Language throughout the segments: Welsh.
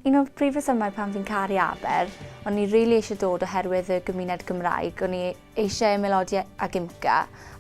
Un o'r prif resymau pam fi'n caru Aber, o'n i rili eisiau dod oherwydd y gymuned Gymraeg, o'n i eisiau ymaelodi ag IMCA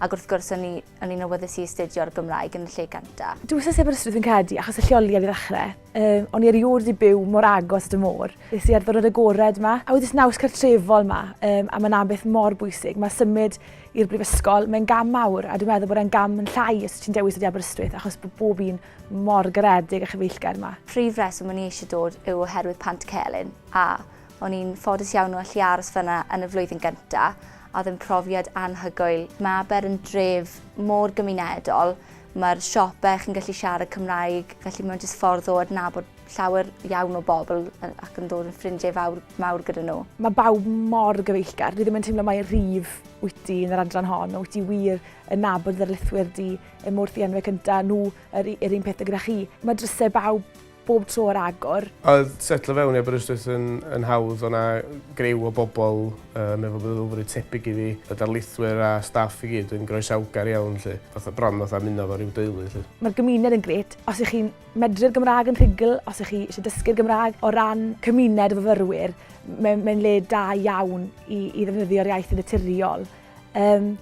ac wrth gwrs o'n i o'n i'n awyddus i astudio'r Gymraeg yn y lle gynta'. Dwi wastad 'di bod yn Aberystwyth fi'n credu achos y lleoliad i ddechrau. Yym o'n i erioed 'di byw mor agos at y môr. Es i ar ddiwrnod agored 'ma a wedi naws cartrefol 'ma yym a ma' 'na beth mor bwysig, ma' symud i'r brifysgol, mae'n gam mawr a dwi'n meddwl bod e'n gam yn llai os ti'n dewis dod i Aberystwyth achos bo' bob un Mor garedig a chyfeillgar yma. Prif reswm o'n i eisiau dod yw oherwydd Pant Celyn, a o'n i'n ffodus iawn o allu aros fan'na yn y flwyddyn gynta', a oedd yn profiad anhygoel. Mae Aber yn dref mor gymunedol, mae'r siope chi'n gallu siarad Cymraeg, felly mae'n jyst ffordd o adnabod llawer iawn o bobl ac yn dod yn ffrindiau fawr, mawr gyda nhw. Mae bawb mor gyfeillgar, dwi ddim yn teimlo mai rif wyt ti yn yr adran hon, wyt ti wir yn nabod dy ddarlithwyr di, Er mor ddienwe cynta nhw yr yr un peth gyda chi. Mae drysau bawb bob tro ar agor. Oedd setlo fewn i Aberystwyth yn yn hawdd, o' 'na griw o bobl yym efo meddylfryd tebyg i fi, y darlithwyr a staff i gyd yn groesawgar iawn 'lly, fatha bron fatha ymuno efo ryw deulu 'lly. Mae'r gymuned yn grêt, os 'y chi'n medru'r Gymraeg yn rhugl, os 'y chi isie dysgu'r Gymraeg, o ran cymuned o fyfyrwyr, m- mae'n le da iawn i i ddefnyddio'r iaith yn naturiol. Um,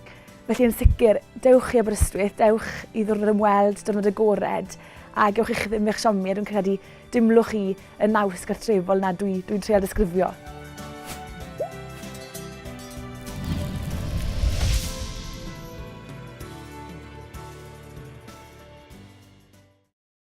felly yn sicr, dewch i Aberystwyth, dewch i ddwrnod ymweld, dwrnod agored, a gewch eich ddim eich siomi, a dwi'n credu dimlwch chi y naws gartrefol na dwi'n dwi, dwi treol disgrifio.